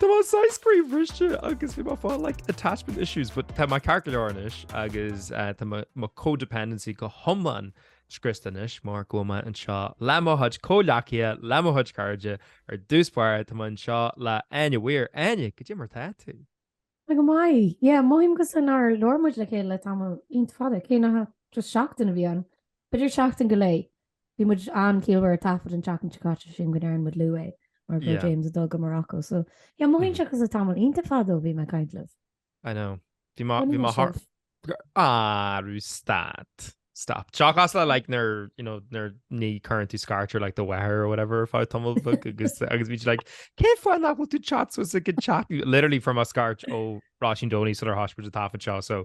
Tá mé scream agus bhí like attachment issues, but tá mé ceart go leor anois agus eh, tá mo codependency go hiomlán scriosta anois mar go bhfuil mé anseo le mo chuid comhghleacaithe le mo chuid cairde ar dtús báire tá mé anseo le Áine mhór Áine go dté mar tá tú. Tá go maith. Yeah, mothaím cosúil nár labhair muid le chéile le tamall iontach fada, cé nach ach just seachtain a bhí ann, b'fhéidir seachtain go leith. Bhí muid iontach ciallmhar ag taifead an tseachtain seo caite sílim go ndearna muid luath é mar go raibh Yeah. James ag dul go Morocco so yeah mothaíonn sé cosúil le tamall iontach fada ó bhí mé ag caint libh. I know. Bhí má, bhí má thar- Arú stad. Stop. Seachas like nar, you know, nar níor chuir tú scairt orm like the weather or whatever le tamall like, agus agus bhí like cén fáth nach bhfuil tú chat so is a good chat literally from a scairt ó Róisín Donny sular thosaigh muid ag taifead so so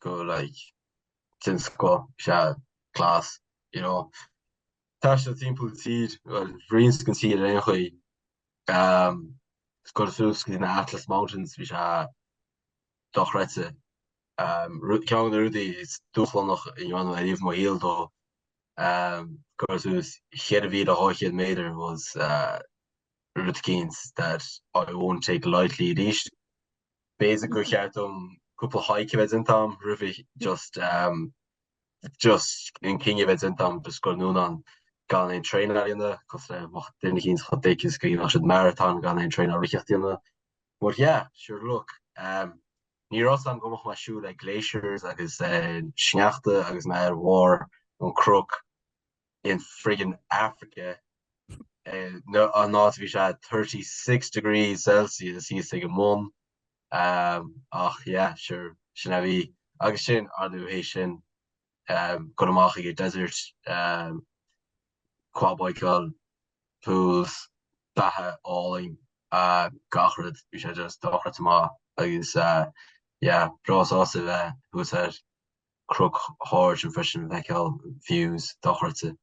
go like den scoth bhí sé class, you know. Taisteal timpeall an tír, bhuel roinnt den tír ar aon chaoi. Ehm chuaigh suas go dtí na Atlas Mountains bhí sé dochreidte. Ehm ru- ceann de na rudaí is dúshlánaí a rinne mé ariamh i mo shaol dul ehm gabháil suas 4200 metre was eh rud eicínt that I won't take lightly arís. b'fhéidir gur cheart dom cúpla hike a bheith déanta agam roimhe just just an cinneadh a bheith déanta agam scaoileadh fúm ann gan aon traenáil a dhéanamh cosúil le mo dhuine éicint a cheapas go dhéanfadh siad maratón gan aon traenáil a friggin dhéanamh. But yeah, sure look, ehm, ní raibh fhios agam go mbeadh mé ag siúl le Glaciers agus sneachta agus mé ar bharr an chnoic in friggin Africa an áit a bhí sé 36 degrees celsius thíos ag an mbun ach yeah sure sin a bhí agus sin arú inné sin dul amach ag an desert quad bikeáil pools beatha álainn gach rud bhí sé just dochreidte maith agus yeah breá sásta a bheith thar sáile. ag críochnú leis sin ag feiceáil views dochreidte.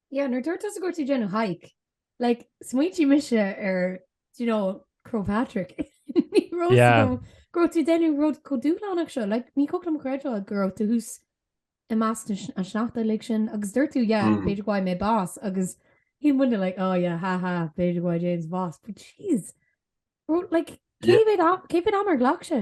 Yeah nuair dúirt tusa go raibh tú ag déanamh hike like smaoinigh mise ar do you know Croagh Patrick ní raibh fhios agam go raibh tú ag déanamh rud chomh dúshlánach seo like ní thig liom creidbheáil go raibh tú thuas i measc an sneachta uilig sin agus dúirt tú yeah b'fhéidir go bhfaighidh mé bás agus bhí muidne like oh yeah ha ha b'fhéidir go bhfaighidh James bás but jeez like cé mhéad am ar ghlac sé?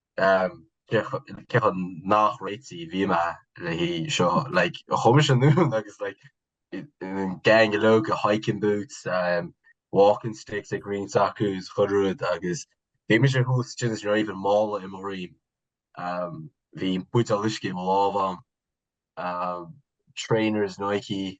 cé chomh neamhréitithe a bhí mé le seo, like, chuaigh muid anonn agus like gang leo go, hiking boots, walking sticks ag roinnt acu is chuile rud agus bhí mise thuas sin is ní raibh aon mála ar mo dhroim. Bhí buidéal uisce i mo lámh agam, trainers Nike,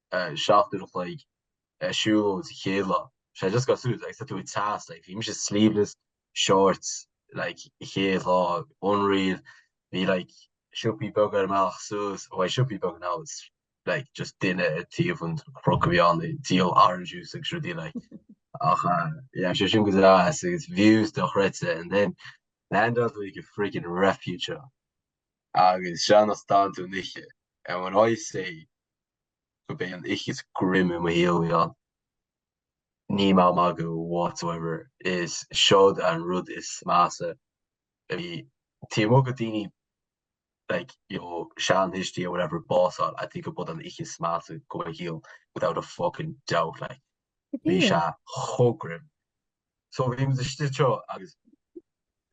seacht uair an chloig ag siúl as a chéile. Sé just ag goil suas like tá tú ag teas like bhí mise sleeveless, shorts like an chéad lá unreal bhí like siopaí beaga ar an mbealach suas oh bheadh siopaí beaga now it's like just duine ag taobh an chnoc a bhí ann ag díol orange juice agus rudaí like ach eh yeah sé sin go deas agus views dochreidte and then land on like a freaking refuge agus sin as dán tú an oíche and when I say go mb'í an oíche is grim i mo shaol ann. Níl mé ag magadh whatsoever. Is seod an rud is measa a bhí. Taobh amuigh go dhaoine like you know sean-thuistí or whatever básáil I think go b'iod an oíche is measa go mo shaol without a fucking doubt like. Bhí sé chomh grim. So bhí muid istigh anseo agus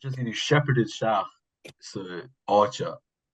just you know shepherded isteach san áit seo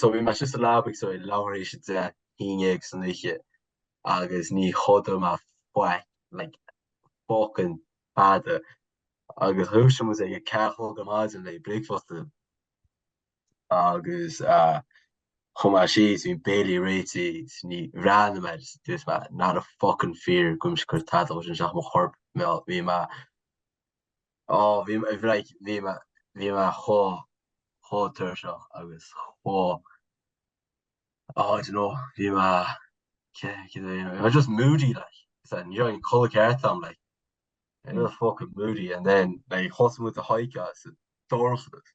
so bhí mise sa leaba ag leathuair théis a 10 a haon déag san oíche agus níor chodail mé faic like fucking tada agus dhúisigh muid suas ag a ceathair a chlog ar maidin le bricfeasta agus chuaigh mé síos bhí béilí réitithe agus ní bhreathnaigh mé agus dúirt mé not a fucking fear go mbeidh mise ag cur tada dhó sin isteach i mo chorp bhí mé Ó, bhí mé, like, bhí mé, bhí mé chomh, chomh tuirseach agus chomh, oh, I don't know, bhí mé, cé, cé mhéad aois, I was just moody, like, so, ní raibh aon chodladh ceart a'm, like, I was just fucking moody and then, like, thosaigh muid an hike sa dorchadas.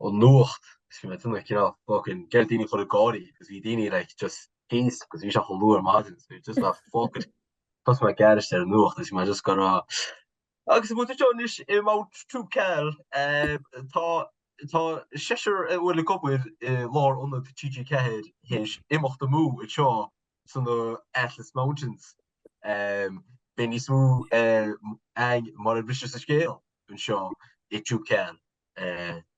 Ón nuacht is bhí mé tinn ag cineál buachan ag iarraidh daoine a chur ag gáirí agus bhí daoine like just pissed 'cause bhí sé chomh luath ar maidin so you're just like fuck it. Thosaigh mé ag aithris ar an nuacht agus bhí mé just go raibh maith agat tá muid anseo anois i Mount Toubkal eh tá tá seisear a bhfuil ag obair i lár ionad TG4 théis imeacht amú anseo sna Atlas Mountains eh beidh níos mó eh againn mar a bhriseas an scéal anseo i Toubkal.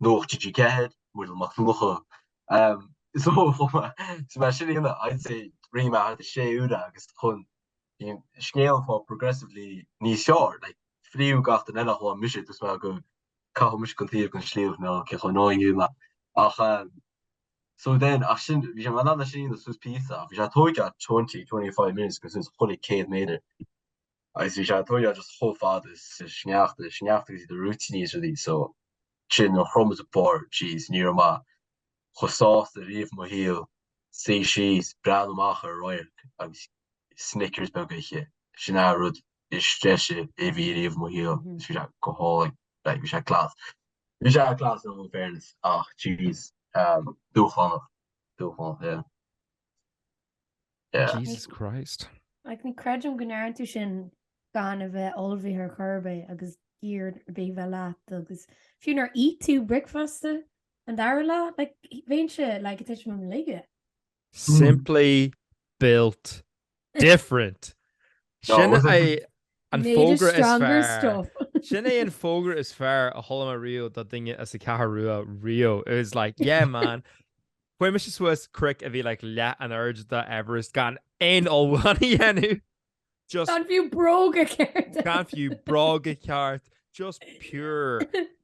nuacht TG4, Muriel Mac Donncha. So chomh maith, so mar sin fhéin I'd say roimh a 6 uaire agus chun bíonn scéal an phob progressively níos fearr, like fríú gach duine eile thóg mise tús mé go caitheadh mise go taobh den sliabh nó cé chomh nó inniu mé ach so then ach sin bhí sé mar lean leis sin suas píosa ach bhí sé ag tógáil 20, 25 minutes ag goil suas chuile 100 méadar. agus bhí sé ag tabhairt aird chomh fada sa sneachta sa sneachta agus iad ag rith aníos ar dtí so sin nuair a shroich mise an barr Jesus ní raibh mé chomh sásta riamh i mo shaol ag suí síos ag breathnú amach ar an radharc agus snickers beag á ithe sin a' rud is deise a bhí riamh i mo shaol agus bhí sé go hálainn bheith bhí sé class bhí sé class in all fairness ach jeez dúshlánach dúshlánach yeah. Jesus Christ. Like, ní creidim go ndearna tú sin gan a bheith ullmhaithe ar chor ar bith agus gear ar bith a bheith leat agus fiú nár ith tú bricfeasta an dara lá, like, bheinnse, like, ag tuisliú uilig. Simply built Different. Sin é an fógra is fearr. Sin é an fógra is fearr a chuala mé riamh do dhuine as an gCeathrú Rua riamh. It was like, yeah man. Fuair mise suas cnoic a bhí like leath an aird do Everest gan aon olmhán a dhéanamh. Just Gan fiú bróga ceart. gan fiú bróga ceart. Just pure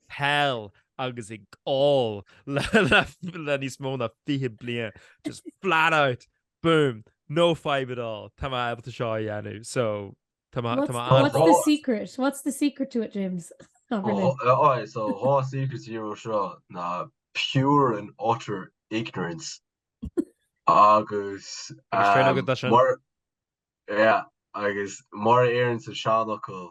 peil agus ag ól le le le níos mó na 20 bliain. Just flat out. Boom! No fadhb at all. Tá mé ábalta seo a dhéanamh so tá mé tá mé an-. What's the secret? What's the secret to it, James? Tá mé linn. Aye, so dhá secret dó seo ná pure and utter ignorance agus Agus féin agat dá sin. mar yeah agus mar a deireann an seanfhocal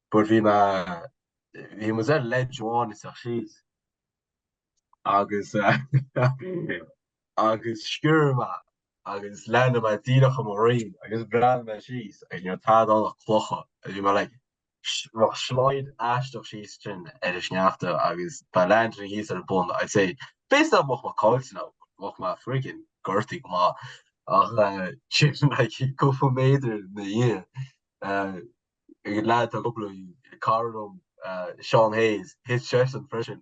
But bhí mé, bhí mise ar leac amháin isteach síos agus agus sciorr mé agus landáil mé díreach ar mo dhroim agus bhreathnaigh mé síos agus ní raibh tada ann ach clocha bhí mé like ag slideáil aisteach síos sin ar an sneachta agus dá landálfainn thíos ar an bun I'd say b'fhéidir bheadh mé caillte nó bheadh mé friggin gortaithe go maith ach sin like cúpla méadar i mo dhiaidh leaid a dhubla í, cara liom, Seán Hayes, thit seisean freisin.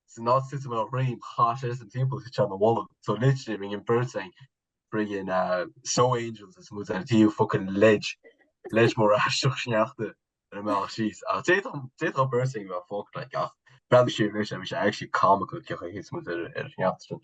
San áit thit mise ar mo dhroim chaith seisean timpeall thit sé mo bholg. So literally rinne an bheirt againn friggin snow angels is mó deir Dia fucking slide slide mór aisteach sneachta ar an mbealach síos ach d'fhéadfadh d'fhéadfadh an bheirt againn a bheith fucked like ach bheadh siad anois a bhí sé actually comical an chaoi a thit muid ar ar an sneachta sin.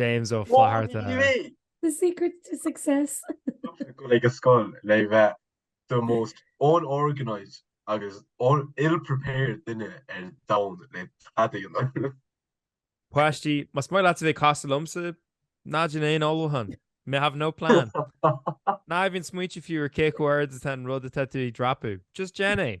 James Ó Flatharta. The secret to success. Tuigtear go like caithfidh tú a bheith the most unorganised agus ill-prepared duine ar domhan le teadaíonn. Páistí, má's maith leat a bheith cosúil liomsa, ná déan aon ullmhúchán, make no plan. Ná bí ag smaoineamh fiú ar cé chomh hard atá an rud atá tú ag dreapadh, just déan é.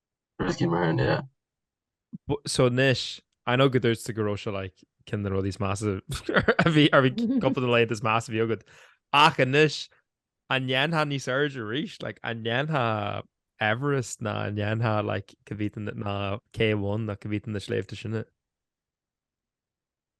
Rioscaí mar sin, yeah. So anois, I know go ndúirt tú go raibh sé like, ceann de na rudaí is measa a bhí ar bhí cúpla de na laethanta is measa a bhí agad. Ach anois, an ndéanfá níos airde arís, like, an ndéanfá Everest nó an ndéanfá like, K2 nó K1 nó cibé iad na sléibhte sin.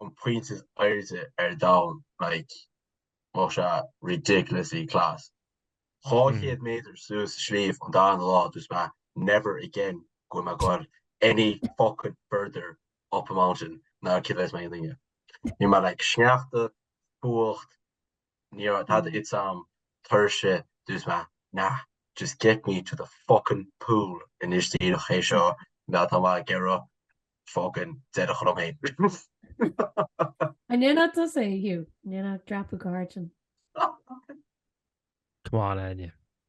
an pointe is airde ar domhan, like, bheadh sé ridiculously class. Dhá chéad méadar suas sliabh an darna lá, dúirt mé never again go bhfuil mé goil ar any fuckin' further up a mountain ná cé a bheas mé i nDaingean. Bhí mé like sneachta, fuacht, Ní raibh tada ite agam tuirse dúirt mé nah, just get me to the fuckin pool anois díreach, cé seo atá mé ag iarraidh fuckin' déanamh orm féin. An ndéanfadh tusa é, Hugh? An ndéanfadh dreapadh go hard ansin? C'mon, Áine.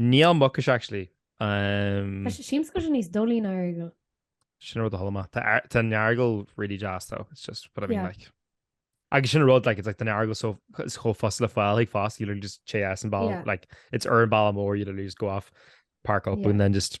Níl, Muckish actually um. Tá siamscail sin níos doilí ná Earagail. Sin rud a chuala mé. Tá an Earagail really deas though. It's just what I mean like. Agus sin rud like it's like an Earagail anois chomh furasta le fáil aige fosta you literally just téann tú an bealach like it's ar an bhealach mór you literally just go off park up and then just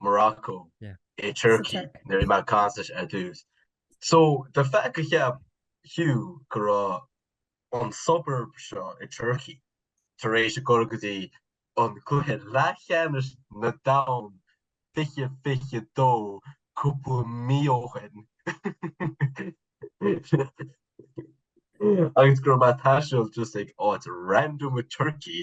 Morocco, i Turkey, nuair a bhí mé ag taisteal ar dtús. So, the fact gur cheap Hugh go raibh an suburb seo i Turkey tar éis a ghoil go dtí an gcluiche leathcheannais an domhain fiche fiche dó cúpla mí ó shin agus go raibh mé ag taisteal just ag áit random i Turkey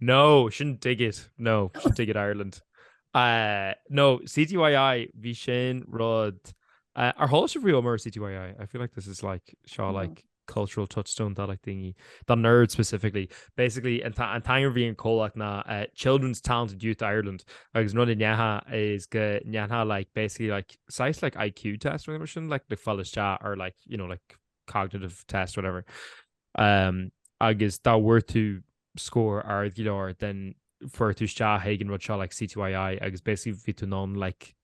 No, sin dig it no sin dig it Ireland. Uh, no, CTYI bhí sin rud uh, ar há se bhíú mar CTYI. I feel like this is like seo mm-hmm. like cultural touchstone that like thingy the nerd specifically basically and an time being call like na uh, children's talented youth Ireland agus run nyaha is good nyaha like basically like size like IQ test or mission like the fellow chat or like you know like cognitive test whatever um agus that were to scór ard go leor then, fuair tú isteach chuig an rud seo like CTYI agus basically bhí tú in ann like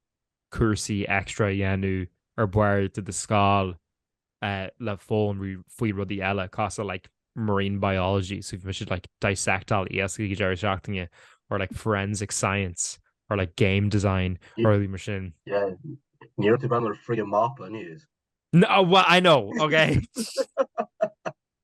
cúrsaí extra a dhéanamh ar bharr de do scoil uh, le foghlaim faoi rudaí eile cosúil le like marine biology so bhí tú like dissectáil iasc ag an deireadh seachtaine or like forensic science or like game design yeah. or mar sin yeah. Ní tú ben ar fri mapa níos No, well, I know, okay.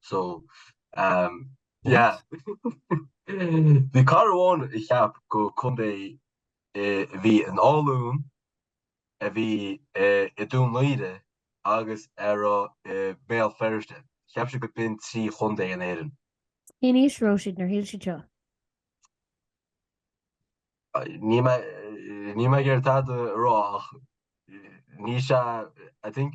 So um yeah Bhí cara amháin a cheap gur contae a bhí i nGaillimh a bhí i Dún Laoghaire agus a bhí i mBéal Feirste. Cheap sé gurb in trí chontae in Éirinn. Cén aois a raibh siad nuair a shíl siad seo? Níl mé níl mé ag iarraidh tada a rá ach níl sé I think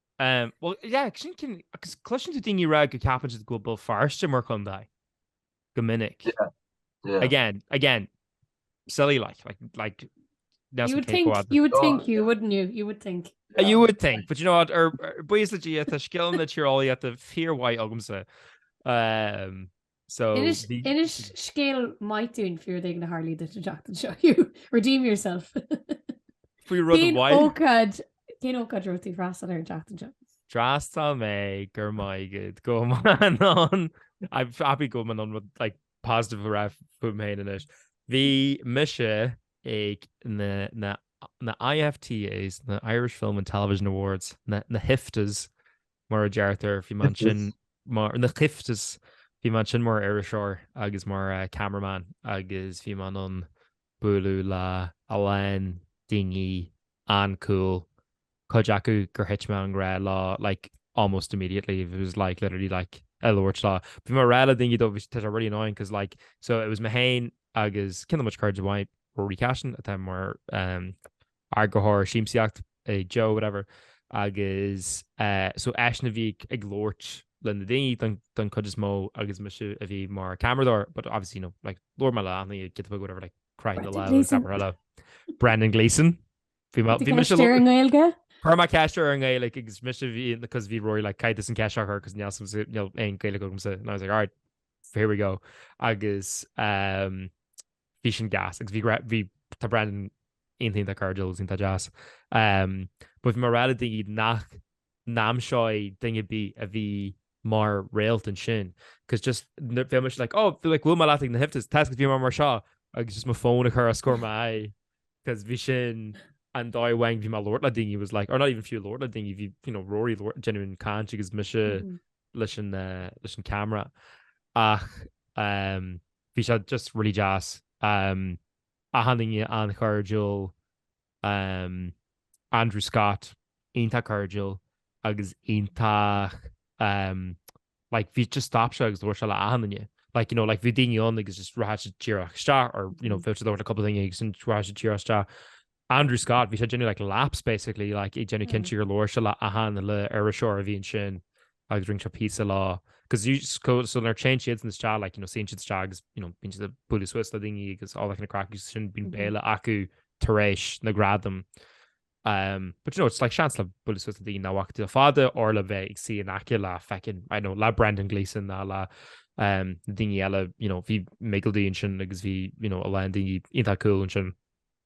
Um, well, yeah, sin cin... Agus cloiseann tú daoine ag rá go ceapann siad go bhfuil Béal Feirste mar chondae. Go minic. Yeah, yeah. Again, again, silly like, like, like You would think, you would think you, wouldn't you? You would think. Yeah. You would think, but you know what, buíochas le Dia, tá scileanna tíreolaíochta fíormhaith agamsa. Um, Inis scéal maith dúinn faoi rud éigin a tharla duit an tseachtain seo, Hugh. Redeem yourself. Faoi rud amháin. Cén ócáid a raibh tú ag freastal air an tseachtain seo? D'fhreastail mé, go raibh maith agat. I'm happy go mbeidh mé in ann rud like positive a rá fúm féin anois. Bhí mise ag na IFTAs, na Irish Film and Television Awards, na hIFTAs, mar a deirtear, bhí mé ansin mar na ciftas, bhí mé ansin mar iriseoir agus mar eh, cameraman agus bhí mé in ann bualadh le a lán daoine an-cool. Cuid acu gur thit mé i ngrá leo like almost immediately. It was like literally like ag labhairt leo. Bhí mé ag rá le daoine dó, bhuel tá sé really annoying cos like so it was mé féin agus ceann de mo chairde amháin Rory Cashin atá mar um, eagarthóir siamsaíochta i Joe whatever agus so eisean a bhí ag labhairt leis na daoine don chuid is mó agus mise a bhí mar ceamaradóir but obviously you know like labhair mé le achan duine acu or whatever like chroith mé lámh agus labhair mé le Brendan Gleeson. Bhí mé bhí mise ar an nGaeilge? Chuir mé ceist ar an nGaeilge agus mise bhí cos bhí Rory like caithfidh tusa an cheist a chur cos níl níl aon Ghaeilge agamsa and I was like alright here we go agus bhí sin deas agus bhí tá Brendan iontach, tá sé just iontach deas. But bhí mé ag rá le daoine nach ndéanfainnse duine ar bith a bhí mar réalt ansin, cos just fé mu le ó bhí le bhfuil mar láigh na hiftas te go bhí mar mar seo agus just mo fón a chur a scór mai cos bhí sin an dóigh a bhí mé ag labhairt le daoine was like or not even fiú labhairt le daoine bhí you know Rory ag labhairt genuine caint agus mé leis an camera ach um, Bhí sé just really deas. Achan duine an-chairdiúil. Andrew Scott, iontach cairdiúil agus iontach like bhí just stop sé agus labhair sé le achan duine like you know like bhí daoine ann agus just rachadh siad díreach isteach or you know bhí siad ag labhairt le cúpla duine agus rachadh siad díreach isteach. Andrew Scott, bhí sé ag déanamh like, laps basically like, ag déanamh cinnte gur labhair sé le achan le iriseoir a bhí ansin agus rinne sé píosa leo. Cos so nuair a théann siad isteach like, you know, suíonn siad istigh agus you know, bíonn siad ag bualadh suas le daoine agus all an chraic sin bíonn béile acu tar éis na ngradam. Um, but you know, it's like seans le bualadh suas le daoine nach bhfaca tú le fada nó le bheith ag suí in aice le feckin', I dunno, le Brendan Gleeson nó le um, daoine eile, you know, bhí Michael D ansin agus bhí, you know, a lán daoine iontach cool ansin.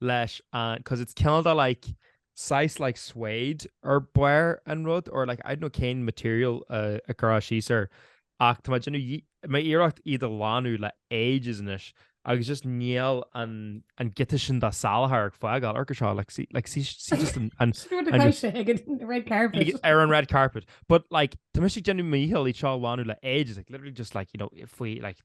leis an, 'cos it's cineál de like saghas like suede ar barr an rud nó like I don't know cén material a cuireadh síos air ach tá mé ag déanamh iarracht iad a ghlanadh le ages anois agus just níl an an giota sin de salachar ag fágáil orthu seo like see like see see just an an Screw the cow shit ag an red carpet. ar an red carpet but like tá mé ag déanamh mo dhícheall iad seo a ghlanadh le ages like literally just like you know faoi like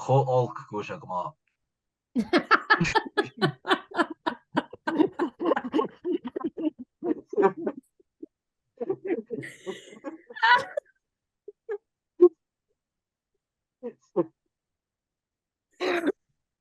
Chomh olc go bhfuil sé go maith.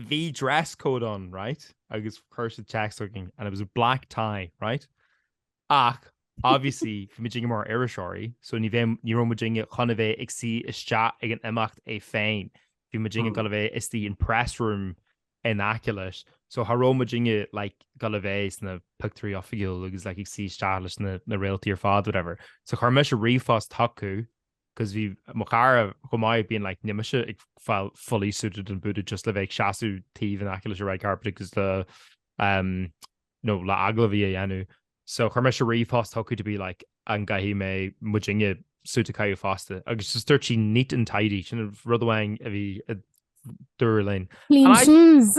Bhí dress code ann, right, agus chuir siad text againn and it was a black tie, right, ach obviously bhí muidinne mar iriseoirí so ní bheidh, ní raibh muidinne chun a bheith ag suí isteach ag an imeacht é féin, bhí muidinne ag dul a bheith istigh in press room in aice leis, so cha raibh muidinne like ag dul a bheith sna pictiúirí oifigiúil agus like ag suí isteach leis na na réaltaí ar fad whatever. So chuir mise ríomhphost chucu 'cause bhí mo chara chomh maith being like níl mise ag fáil fully suited and booted just le bheith ag seasamh taobh in aice leis an red carpet agus le you know le agallamhaí a dhéanamh. So chuir mise ríomhphost chucu to be like an gcaithfidh mé muidinne suit a caitheamh fosta agus just dúirt sí neat and tidy, sin an rud amháin a bhí a dúradh linn. Clean shoes!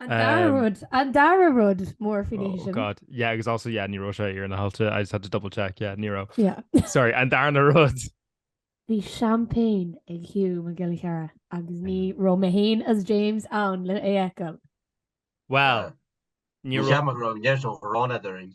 An dara rud, an dara rud mór faoin oíche sin. Oh God, yeah, agus also, yeah, ní raibh sé ar na hailte, I just had to double check, yeah, ní raibh. Yeah. Sorry, an darna rud. Bhí campaign ag Hugh Mac Giolla Chearra agus ní raibh mé féin is James in ann é a fheiceáil. Well, ní raibh. Níor cheap mé go raibh an geirt ó Ghráinne Doirín.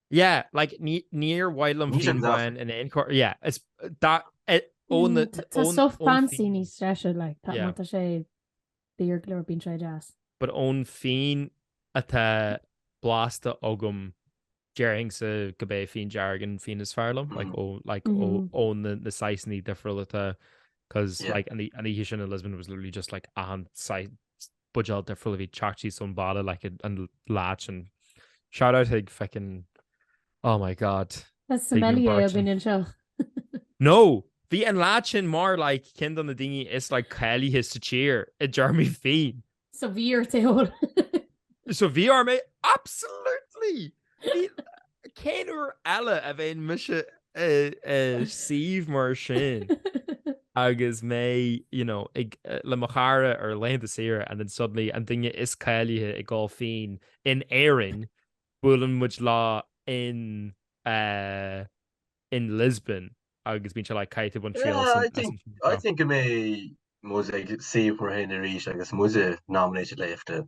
Yeah, like ní níor mhaith liom Ní sé féin go deacair. bháin in aon chor yeah is dá eh, ó na Mm, Tá ón- stuff ón fancy fín. níos deise, like, tá Yeah. má tá sé daor go leor bíonn sé deas. but ón fíon atá blasta agam déarfainnse gurb é fíon dearg an fíon is fearr liom like ó like ó Mhm. ó na na saghsanna difriúil atá cos Yeah. like an í- an oíche sin in Lisbon was literally just like achan sai buidéal de frollaimh iad teacht síos ón bhaile like an lá sin. Shout out chuig feckin oh my god. Tá sommelier againn anseo. No! Bhí an lá sin mar like cionn de na daoine is like cáilithe sa tír i dtéarmaí fíon. So bhí ort é a ól? So bhí orm é absolutely! Cén uair eile a bheinn mise ar suíomh mar sin agus mé le mo chara ar laethanta saoire and then suddenly an duine is cáilithe i gCo. Fín in Éirinn, buaileann muid leo in Lisbon agus bíonn sé like caith i Montreal. I think go mbeidh muid ag suíomh mar sin arís agus muide nominated le IFTA.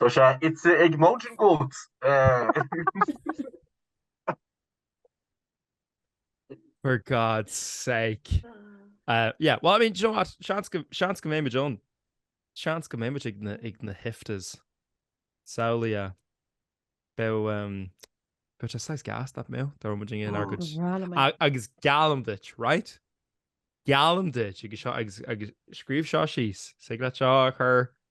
Tá sé ite ag Mountain Goat. For God's sake. Uh, yeah, well, I mean, you know what? Seans go mbeidh muid ann. Seans go mbeidh muid ag na, ag na hIFTAs. Samhlaigh. Beidh, um, beidh te sais gas na mé, dar muid ag ar goid. Agus geallaim duit, right? Geallaim duit, agus seo, agus, agus scríobh seo síos, thig leat seo a chur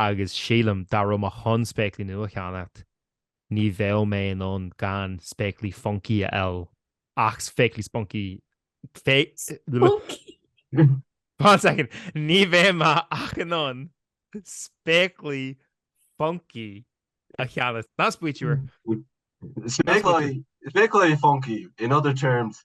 agus sílim, dá raibh mé chun spéaclaí nua a cheannacht, ní bheadh mé in ann gan spéaclaí funky a fháil, ach spéaclaí spunky, ní bheidh mé ach in ann spéaclaí funky a cheannacht. That's what you were. Spéaclaí funky, in other terms,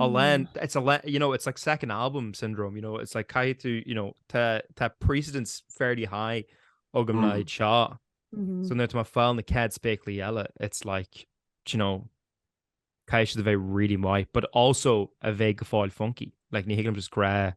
Alan, it's a le- you know, it's like second album syndrome, you know, it's like caithfidh tú, you know, tá tá precedent fairly high agam anseo. So nuair atá mé ag fáil na chéad spéaclaí eile, it's like, do you know, caithfidh siad a bheith really maith, but also a bheith go fóill funky. Like, ní thuigim just gra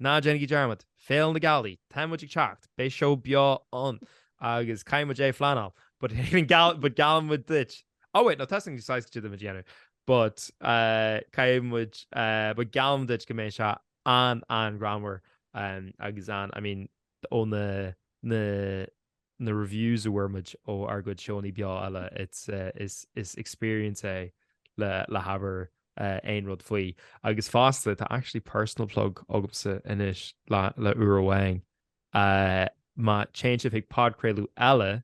Ná déanaigí dearmad, Féile na Gealaí, tá muid ag teacht, beidh seó beo ann agus caithfidh muid é a phleanáil, but geallann muid duit. Oh wait, no tá a fhios againn caidé atá muid a dhéanamh, but uh, caithfidh muid uh, but geallaim duit go mbeidh sé an- an-ghreannmhar um, agus an I mean ó na na na reviews a bhfuair muid ó ár gcuid seónnaí beo eile, it's eh, is, is experience é le, le habair eh, aon rud faoi. Agus fosta, tá actually personal plug agamsa anois le, le uair amháin. Uh, má théann sibh chuig podchraoladh eile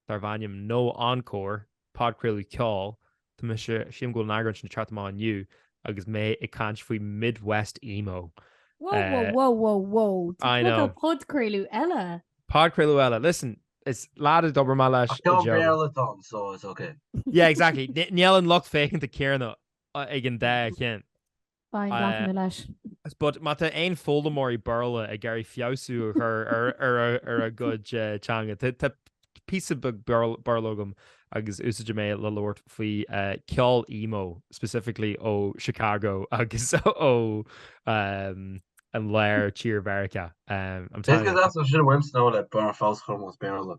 darb ainm No Encore Podchraoladh ceoil, Tá mise, sílim go bhfuil an eagrán sin ag teacht amach inniu agus mé ag caint faoi Midwest Emo. Wow, wow, wow, wow, wow. I know. Tá podchraoladh eile. Podchraoladh eile. Listen, is léir do d'obair, maith leat. Ach tá Béarla ann, so it's ok. Yeah, exactly. Níl an lucht féachana céanna ag an dá cheann. Ba é an deacair leis. But má tá aon foghlaimeoirí Béarla ag iarraidh feabhsú a chur ar a gcuid teanga, tá píosa beag Béarla agam agus úsáideann mé le labhairt faoi ceol emo, specifically ó Chicago agus ó an lár tír Mheiriceá. I'm telling you. Is gas ansin a bhfuil sin a bhfuil snow le barr feabhas chomh mór is Béarla.